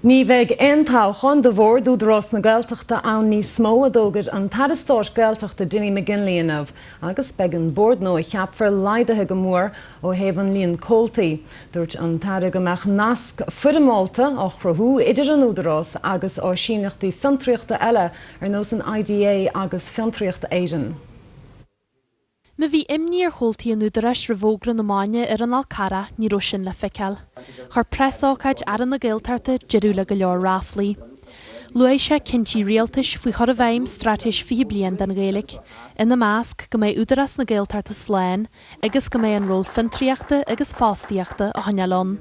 Ní bheidh aon toghchán do Bhord Údarás na Gaeltachta ann níos mó, a d'fhógair an tAire Stáit Gaeltachta Dinny McGinley inniu, agus beidh an bord nua a cheapfar laghdaithe go mór ó thaobh an líon comhaltaí. Dúirt an tAire go mbeadh nasc foirmeálta á chruthú idir an Údarás agus áisíneachtaí fiontraíochta eile ar nós an IDA agus Fiontraíocht Éireann. Má bhí imní ar chomhaltaí an Údaráis roimh fhógra na maidine ar an Fhál Carrach ní raibh sin le feiceáil. Chuir preasócáid Aire na Gaeltachta deireadh le go leor ráflaí. Luaigh sé cinntí rialtais faoi chur i bhfeidhm Straitéis 20 Bliain don Ghaeilge, ina measc, go mbeidh Údarás na Gaeltachta slán agus go mbeidh an ról fiontraíochta agus fostaíochta á choinneáil ann.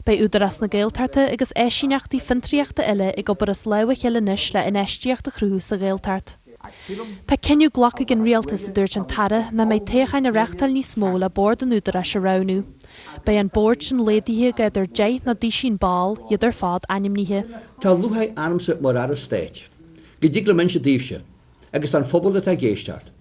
Beidh Údarás na Gaeltachta agus áisíneachtaí fiontraíochta eile ag obair as lámh a chéile anois le infheistíocht a chruthú sa Ghaeltacht. Tá cinneadh glactha ag an Rialtas, a dúirt an tAire, nach mbeidh toghcháin á reachtáil níos mó le Bord an Údaráis a roghnú. Beidh an Bord sin laghdaithe go idir deich nó duisín ball, iad ar fad ainmnithe. Tá lúcháir ormsa mar Aire Stáit go dtig liom inse daoibhse, agus don phobal atá ag éisteacht,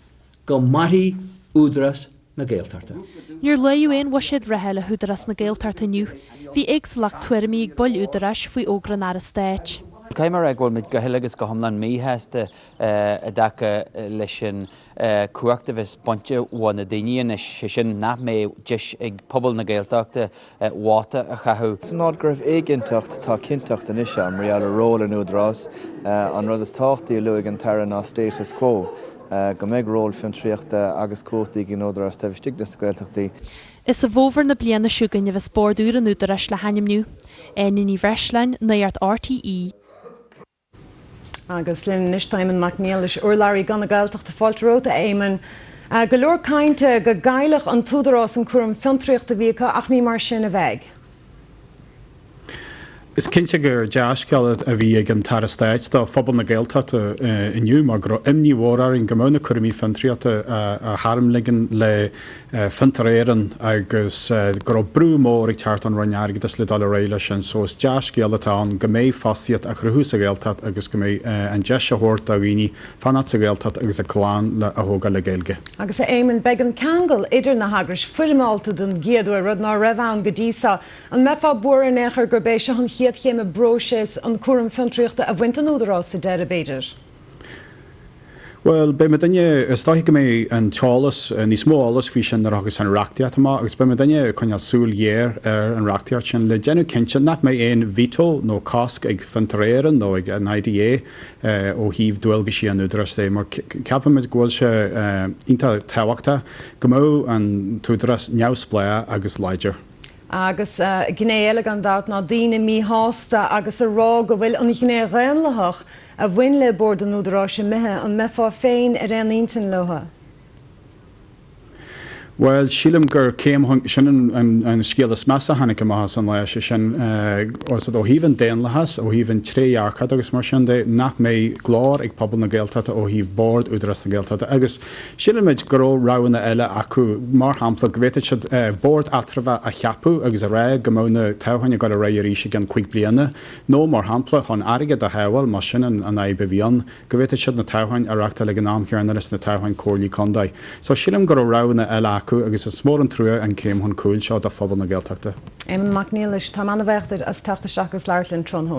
Go mairfidh Údarás na Gaeltachta. Níor luadh aon bhuiséad reatha le hÚdarás na Gaeltachta inniu. Bhí éagsúlacht tuairimí ag baill Údaráis faoi fhógra an Aire Stáit. Caithfidh mé a rá go bhfuil muid go huile agus go hiomlán míshásta i dtaca leis an chumhacht a bheas bainte bho na daoine anois, sé sin nach mbeidh deis ag pobal na Gaeltachta vóta a chaitheamh. San áit go raibh éiginnteacht, tá cinnteacht anois ann mar gheall ar ról an Údaráis. An rud is tábhachtaí a luaigh an tAire ná status quo, go mbeidh ról fiontraíochta agus cumhachtaí ag an Údarás taobh istigh de na Gaeltachtaí. Is i bhfómhar na bliana seo chugainn a bheas Bord úr an Údaráis le hainmniú. Áine Ní Bhreisleáin, Nuacht RTÉ. Agus linn anois tá Éamonn Mac Niallais, urlabhraí Guth na Gaeltachta, fáilte romhat a Éamonn. Go leor cainte go gcaillfeadh an tÚdarás an cúram fiontraíochta a bhí acu ach ní mar sin a bheidh. Is cinnte gur dea-scéal a bhí ag an tAire Stáit do phobal na Gaeltachta inniu mar go raibh imní mhór orainn go mbeadh na cúraimí fiontraíochta a tharmligean le Fiontar Éireann agus go raibh brú mór ag teacht ón Roinn Airgeadais le dul ar aghaidh leis sin. So is dea-scéal atá ann go mbeidh fostaíocht á chruthú sa Ghaeltacht agus go mbeidh an deis á thabhairt do dhaoine fanacht sa Ghaeltacht agus a gclann a thógáil le Gaeilge. Agus, a Éamonn, beidh an ceangal idir na heagrais foirmeálta don gcéad uair, rud ná raibh ann go dtí so. An mbeifeá buartha in aon chor gurb é seo an chéad chéim i bpróiseas an cúram fiontraíochta a bhaint den Údarás sa deireadh, b'fhéidir? Bhuel, beidh muidinne, is dóichí go mbeidh an t-eolas, níos mó eolais faoi sin nuair a thiocfas an reachtaíocht amach agus beidh muidinne ag coinneáil súil ghéar ar an reachtaíocht sin le déanamh cinnte nach mbeidh aon veto nó cosc ag Fiontar Éireann nó ag an IDA ó thaobh dualgaisí an Údaráis de mar ceapaimid go bhfuil sé iontach tábhachtach go mbeadh an tÚdarás neamhspleách agus láidir. Agus gné eile gan dabht ná daoine míshásta agus a rá go bhfuil an ghné dhaonlathach, a bhain le Bord an Údaráis imithe, an mbeifeá féin ar aon intinn leo? Bhuel, sílim gur céim, sin an scéal is measa a tháinig amach as an lá, sé sin, ó thaobh an daonlathas, ó thaobh an trédhearcachta agus mar sin de, nach mbeidh glór ag pobal na Gaeltachta ó thaobh Bord Údarás na Gaeltachta agus sílimid go raibh roghanna eile acu, mar shampla, go bhféadfadh siad Bord Eatramhach a cheapadh agus a rá go mbeadh na toghcháin ag dul ar aghaidh arís i gceann cúig bliana. Nó, mar shampla, chun airgead a shábháil, más sin an fhadhb a bhí ann, go bhféadfadh siad na toghcháin a reáchtáil ag an am chéanna leis na toghcháin comhairlí contae. So, sílim go raibh roghanna eile acu agus is mór an trua an céim chun cúil seo do phobal na Gaeltachta. Éamonn Mac Niallais, táim an-bhuíoch díot as teacht isteach agus labhairt linn tráthnóna.